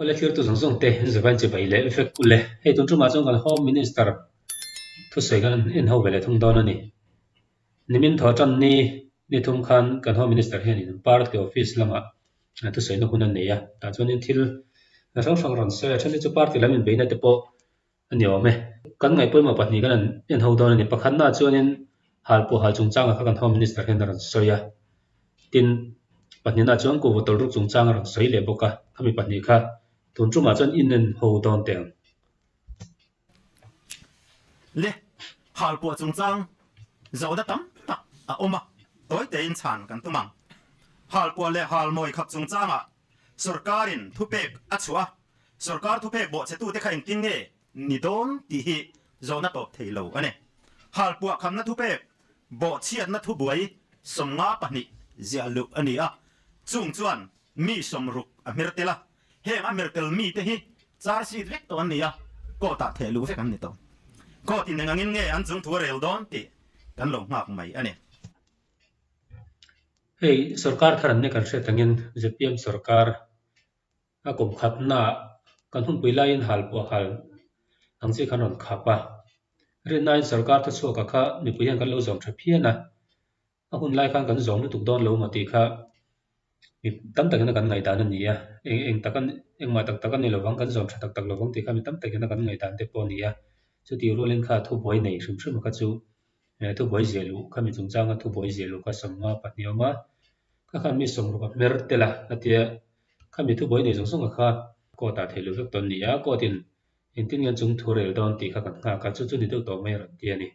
Awle thlir tu zawng zawng te zah kan chibai leh vek kul e. Hei tun tumah chuan kan Home Minister thusawi kan en ho ve leh thung dawn a ni. Nimin thaw tan ni ni thum khan kan Home Minister hian in Party Office lamah thusawi na hun an nei a. Tah chuan in thil hrang hrang rawn sawi a. A then hi chu Party lam inbeihna te pawh a ni awm e. Kan ngaihpawimawh pahnih kan han en ho dawn a ni. Pakhatnaah chuanin hal pawh hal chungchanga kha kan Home Minister hian a rawn sawi a, tin, pahnihnah chuan Kuhva Tawlruk chungchanga rawn sawi leh bawk a, khami pahnih kha tun tumah chuan inen ho dawn teh ang. Le, hal pawh chungchang zawhna tam tak a awm a, tawi teiin chhan kan tum ang. Hal pawh leh hal mawi khap chungchangah sorkarin thupek a chhuah a, Sorkar thupek bawh che tu te kha engtin nge ni dawn tih hi zawn a tawp thei lo a ni. Hal puah khamna thupek bawh chhiatna thubuai sawmnga pahnih ziah luh a ni a, chung chuan mi sawm ruk a hmer tel a, heng a hmer tel mi te hi char sit vek tawh an ni a, court ah theh luh vek an ni tawh. Court in eng angin nge an chungthu a rel dawn tih kan lo nghak mai a ni. Hei sorkar thar an ni kan hriat angin, ZPM sorkar. A kum khatnaah kan hunpui laiin hal pawh hal ang chi kha rawn khap a, rin naiin sorkar te chhuaka kha mipui hian kan lo zawm tha phian a, a hun lai khan kan zawm lutuk dawn lo maw tih kha mi tam tak in a kan ngaihdan a ni a, eng eng tak a ni engmah tak tak a ni lovang kan zawm tha tak tak lovang tih kha mi tam tak in a kan ngaihdan te pawh a ni a, chutirualin kha thubuai nei hrim hrima kha chu He thu buai zia luh khami chung changa thu buai zia luh ka sawn nga pa hniam a, ka khan mi sawm ruka hmer tel a ka tia khami thu buai nei zawng zawng a kha court ah theih luh vek tawn nia court in engtin nge chung thu rel dawn tih kha kan nghak a chu chu ni deuh tawh mai a rawn ti a ni.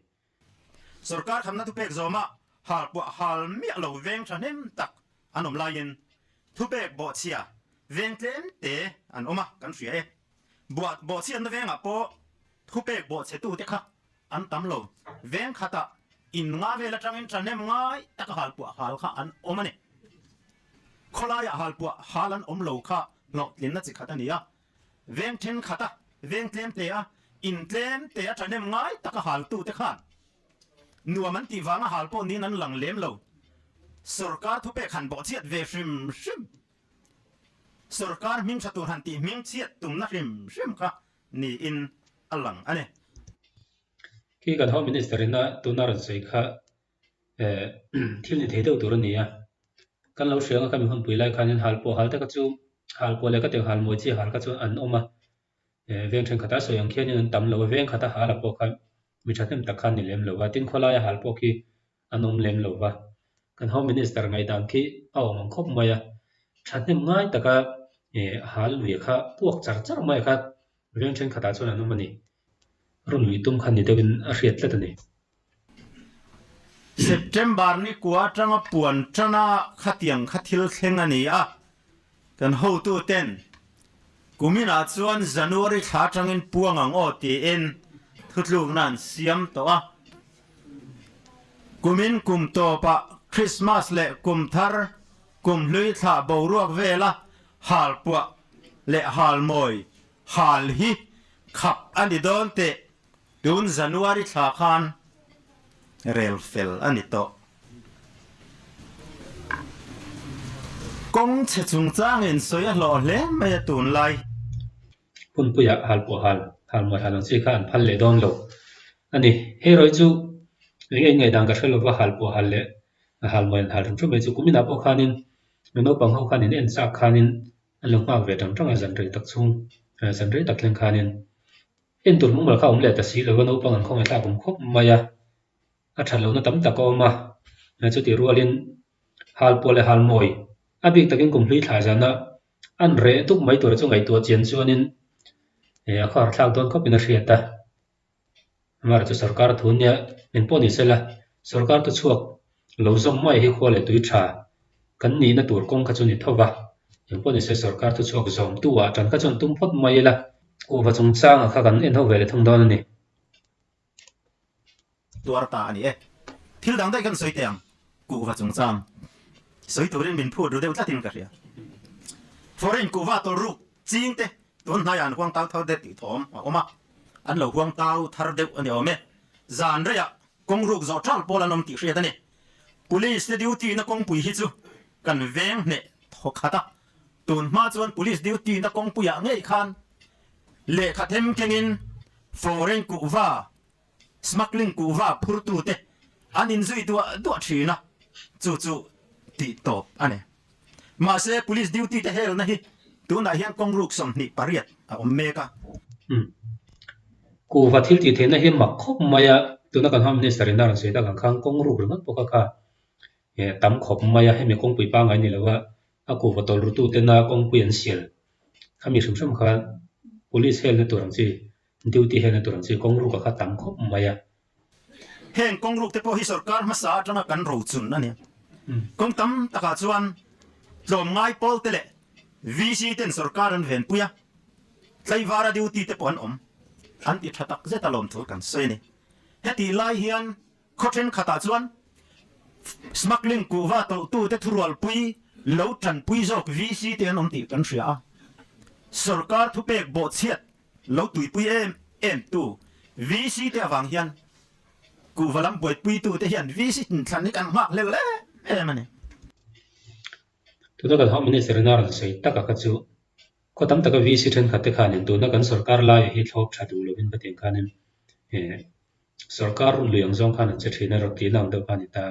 Sorkar thlapna thu pek zawma hal kuah hal miah lo veng thahnem tak an awm laiin thu pek bawhchhia veng tlem te an awm a kan hria e. Buat bawhchhiatna vengah pawh thu pek bawhchhe tute kha an tam lo. Veng khata in nga vel atangin ṭanem ngai taka halpuah hal kha an awm a ni. Khawlaia halpuah hal an awm lo kha hnawhtlinna chi khat a ni a. Veng ṭhenkhata veng tlemtea in tlemtea ṭanem ngai taka haltute khan nuam an tih vanga hal pawh niin an lang lem lo. Sorkar thupek han bawhchhiat ve hrim hrim. Sorkar hmingṭha tur han tih hmingchhiat tumna hrim hrim kha niin a lang a ni. Khi kan Home Minister ina tuna rawn sawi kha thil ni thei deuh tur a ni a, kan lo hriang a ka mi hun pui lai khanin hal pawh hal te kha chu hal pawh leh ka teng hal mawi chi hal kha chu an awm a, veng thenkhatah sawi ang khianin an tam lo a, veng khata hala pawh kha mi thahnem tak kha a ni lem lo a, tin khawlaia hal pawh khi an awm lem lo va, kan Home Minister ngaihdan khi a awm ang khawp mai a, thahnem ngai taka a hal nuia kha puak char char mai kha veng thenkhatah chuan an awm a ni. Rawn lui tum kha ni deuhin a hriat tlat a ni. September ni kua atanga puan tana khatiang kha thil thleng a ni a. Kan hotu ten kumin ah chuan January thla atangin puang ang aw tiin thutlukna an siam tawh a. Kumin kum tawp ah Christmas leh kum thar, kum hlui thla boruak vela hal puah leh hal mawi hal hi khap a ni dawn teh Tun January thla khan rel fel a ni tawh. Kawng chhe chungchanga in sawi a hlawh hle mai a tunlai. Punpuia hal pawh hal, hal muai hal ang chi kha an phal leh dawn lo a ni. Hei rawi chu eng eng ngaidang ka hre lo va, hal pawh hal leh hal muai an hal ringrawt mai chu. Kuminah pawh khanin nu naupang ho khan in en chak khanin an lo nghak ve tang tang a, zan rei tak chhung, zan rei tak thleng khanin En tur hmang ber kha awm leh ta si lo a, naupang an khawngaihthlak a awm khawp mai a, a that lohna tam tak a awm a, hmeichhe chu tihrualin hal pawh leh hal mawi a bik takin kum hlui thlai zana an reh dup mai tura chu ngaihtuah chian chuanin eh a khuara thlak dawn khawpin a hriat a, amaherawhchu sorkar a thu nia min pawh ni sela sorkar te chhuak Lo zawm muai hi khua leh tui tha kan nihna tur kawng kha chu ni tho va, engpawh ni se sorkar thu chhuak zawm tu ah tan kha chuan tum phawt muai ila kuhva chung chang ah kha kan en ho ve leh thung dawn a ni. Tuar ta a ni e, thil dang daih kan sawi teh ang, kuhva chung chang sawi turin min phut ru deuh tlat in ka hria. Foreign kuhva tawlh ruk ching te tun hnai ah an huang tau thar det tih thawm a awm a, an lo huang tau thar deuh a ni awm e, zan rei ah Kawng ruk zawh ṭal pawl an awm tih hriat a ni. Police te duty na kawngpui hi chu kan veng hneh thaw khat a, tun hma chuan Police duty na kawngpui ah ngei khan lehkha them keng in foreign kuhva, smuggling kuhva phur tu te an in zui duah duah ṭhin a, chu chu tih tawp a ni. Mahse, police duty te helna hi tunah hian kawng ruk sawmhnih pariat a awm mek a. Umm. Kuhva thil tih theihna hi mak khawp mai a. Tuna kan Home Minister in a rawn sawi dalh ang khan kawng ruk ringawt bawk a kha. Eh, tam khawp mai a, hemi kawngpui pangai ni lo a, a kuhva tawlrutu tena kawngpui an sial. Khami hrim hrim khan police helna tur ang chi, duty helna tur ang chi kawng ruka kha tam khawp mai a. Heng kawng ruk te pawh hi sorkar hmasa atanga kan rochun a ni. Kawng tam takah chuan tlawm ngai pawl te leh VC ten sorkar an venpui a, tlaivara duty te pawh an awm, an ti tha tak zeta lawm thu kan sawi a ni. Hetih lai hian khaw thenkhatah chuan smuggling kuhva tawhtu te thurualpui lo tanpui zawk VC te an awm tih kan hria a, sorkar thupek bawhchhiat Lo tuipui em em tu VC te avang hian kuhva lam buaipui tu te hian VC in thlan hi kan nghak hlel leh em a ni. Tuna kan hau minute ringah a rawn sawi tak a kha chu khaw tam taka VC thenkhat te khanin tuna kan sorkar laia hi thlawp tha duh lovin ka tiang khanin he Sorkar rawn lui ang zawng khan an che thin a, rawn ti na ang deuh kha a ni ta.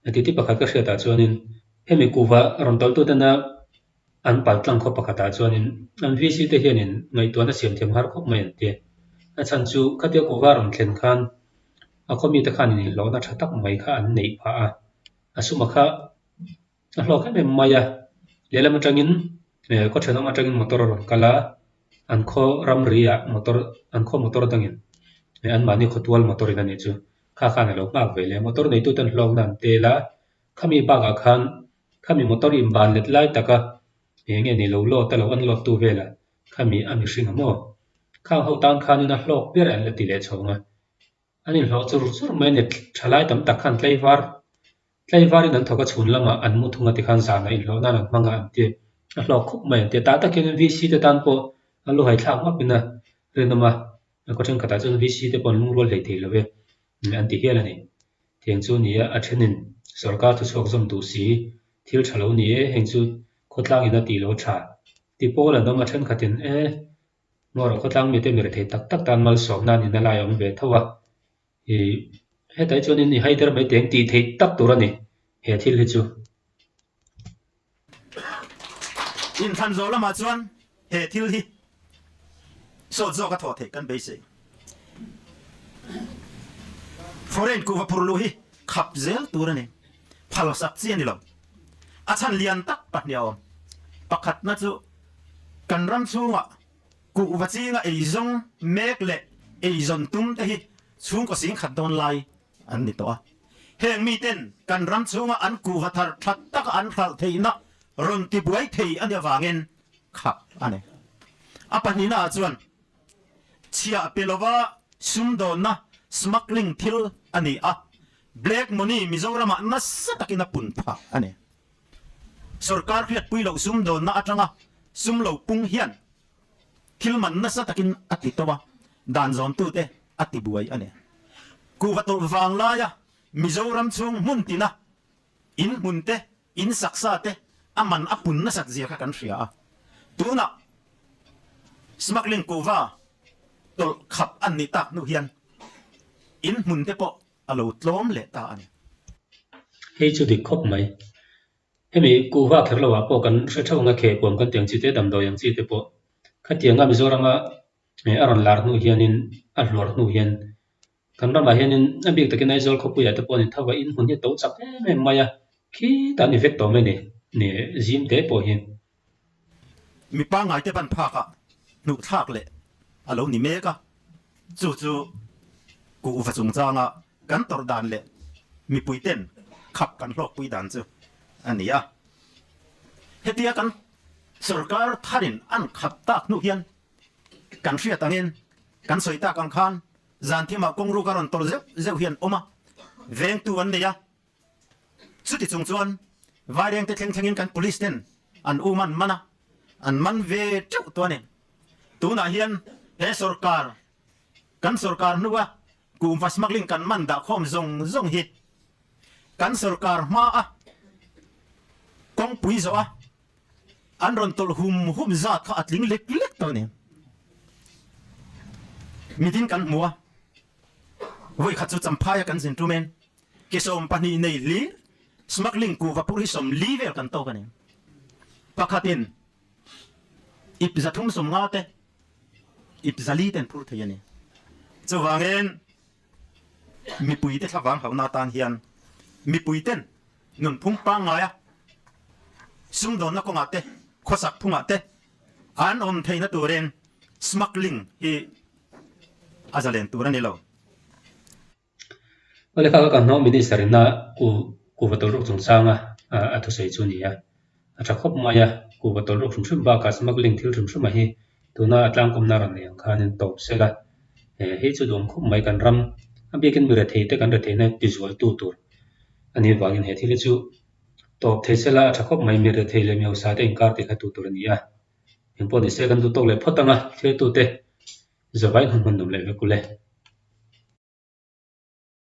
A titi pakhat ka hriat ah chuan in hemi kuva rawn tawlh tu tena an pal tlang khawp pakhat ah chuan in an VC te hian in ngaihtuahna siam thiam har khawp mai an ti. A chhan chu khatia kuva rawn thlen khan a khaw mi te khan in inhlawhna tha tak mai kha an neih phah a, a suma kha a hlawk em em mai a lehlam atangin eh khaw then lam atangin motor a rawn kal a an khaw ram ri ah motor an khaw motor dangin eh anmahni khaw tual motor in a nih chu kha khan a lo nghak ve leh a motor neitu ten hlawkna an tel a khami bakah khan khami motor in ban let lai taka eh nge ni lo load a lo unload tu velah khami a mihring ang maw khang ho tan khanin a hlawk ber a en la ti leh chhawng a. An inhlawh chur chur mai a ni. Thalai tam tak khan tleivar tleivarin an thawk a, chhun lamah an mu thung a tikhan zanah inhlawh nan an hmang a an ti. A hlawk khawp mai an ti. Tah tak hian VC te tan pawh a lu hai thlak vak in a rinawm a, khua thenkhatah chuan VC te pawh an lungrual theih thei lo e an ti hial a ni. Tiang chu ni a, a thenin sorkar chu chhuak zawm duh si, thil tha lo ni e, heng chu khawtlang in a tih lo tha ti pawl an awm a, thenkhatin e Hnuah rawh khawtlang mite mi rethei tak tak tan malsawm nan in a lai awm ve tho a, i hetlai chuan in i haider mai teng tih theih tak tur a ni he thil hi chu. Inthlan zawh lamah chuan he thil hi sawt zawk a thaw theih kan beisei. Foreign kuh va phur luh hi khap zel tur a ni, phalsak chi a ni lo. A chhan lian tak pahnih a awm. Pakhatna chu kan ram chhungah kuh vachinga eizawng mek leh eizawn tum te hi chhungkaw sing khat dawn lai an ni tawh a. Heng miten kan ram chhunga an kuh va thar that taka an hralh theihna rawn ti buai thei a nih avangin khap a ni. A pahnihnaa chuan chhiah pe lova sumdawnna, smuggling, thil a ni a, Black money Mizoramah nasa takin a pun phah a ni. Sorkar hriatpui loh sumdawnna atanga sum lo pung hian thil man nasa takin a ti tawh a, dan zawntute a ti buai a ni. Kuhva tawlh vang laia Mizoram chhung hmun tina in hmunte, in saksate a man a pun nasat zia kha kan hria a, tunah smuggling kuhva tawlh khap a ni tak hnu hian in hmunte pawh a lo tlawm leh ta a ni. Hei chu dik khawp mai. Hemi kuhva kher loah pawh kan hre theuh nga kheh kuam kan tih ang chi te, damdawi ang chi te pawh. Khatianga Mizorama a rawn lar hnu hianin, a hluar hnu hian kan ramah hianin a bik takin Aizawl khawpuiah te pawhin tho vahin hun hi a to chak em em mai a, khitah a ni vek tawh mai ni, zim te pawh hi. Mi pangngaite ban phakah hnuhthlak leh a lo ni mek a, chu chu kuh va chungchanga kan tawrh dan leh mipuiten khap kan hlawkpui dan chu a ni a. Hetia kan sorkar tharin an khat tak hnu hian kan hriat angin kan sawi tak ang khan Zanthima kawng ruk a rawn tawlh zeuh zeuh hian awm a, vengtu an nei a. Chutichung chuan Vairengte thleng thlengin kan Police ten an um an man a, an man ve teuh tawh a ni. Tunah hian he sorkar, kan sorkar hnua Kuhva smuggling kan man dah khawm zawng zawng hi kan sorkar hma a kawngpui zawh a, an rawn tawlh hum hum zat kha a tling lek lek tawh a ni. Mitin kan hmu a, vawi khat chu champhaia kan zin tum em? Ke sawm pahnih nei hlir smuggling kuh vapur hi sawm li vel kan tawk a ni. Pakhat in ip za thum sawm nga te, ip za li ten phur thei a ni. Chuvang in mipui te thlavang hau na atan hian mipui ten nunphung pangngai a sumdawn na kawng ah te, khawsak phung ah te an awm thei na tur in smuggling hi a za len tur a ni lo. Kawlekha ka kan hawng minister in a ku ku va tawlh rawk chung chang a a thusawi chu ni a a tha khawp mai a ku va tawlh rawk hrim hrim bak a smuggling thil hrim hrim a hi tuna a tlangkawm na rawn nei ang khan in tawp sela he hi chu duam khawp mai kan ram a bik in mi re thei te kan re thei na ti zual tu tur a nih vang in he thil hi chu tawp thei sela a tha khawp mai mi re thei le mi hausa te inkar ti kha tu tur a ni a eng pawh ni se kan duh tawk leh phawt ang a thil tu te Zavai hnu hman dam leh vek u le.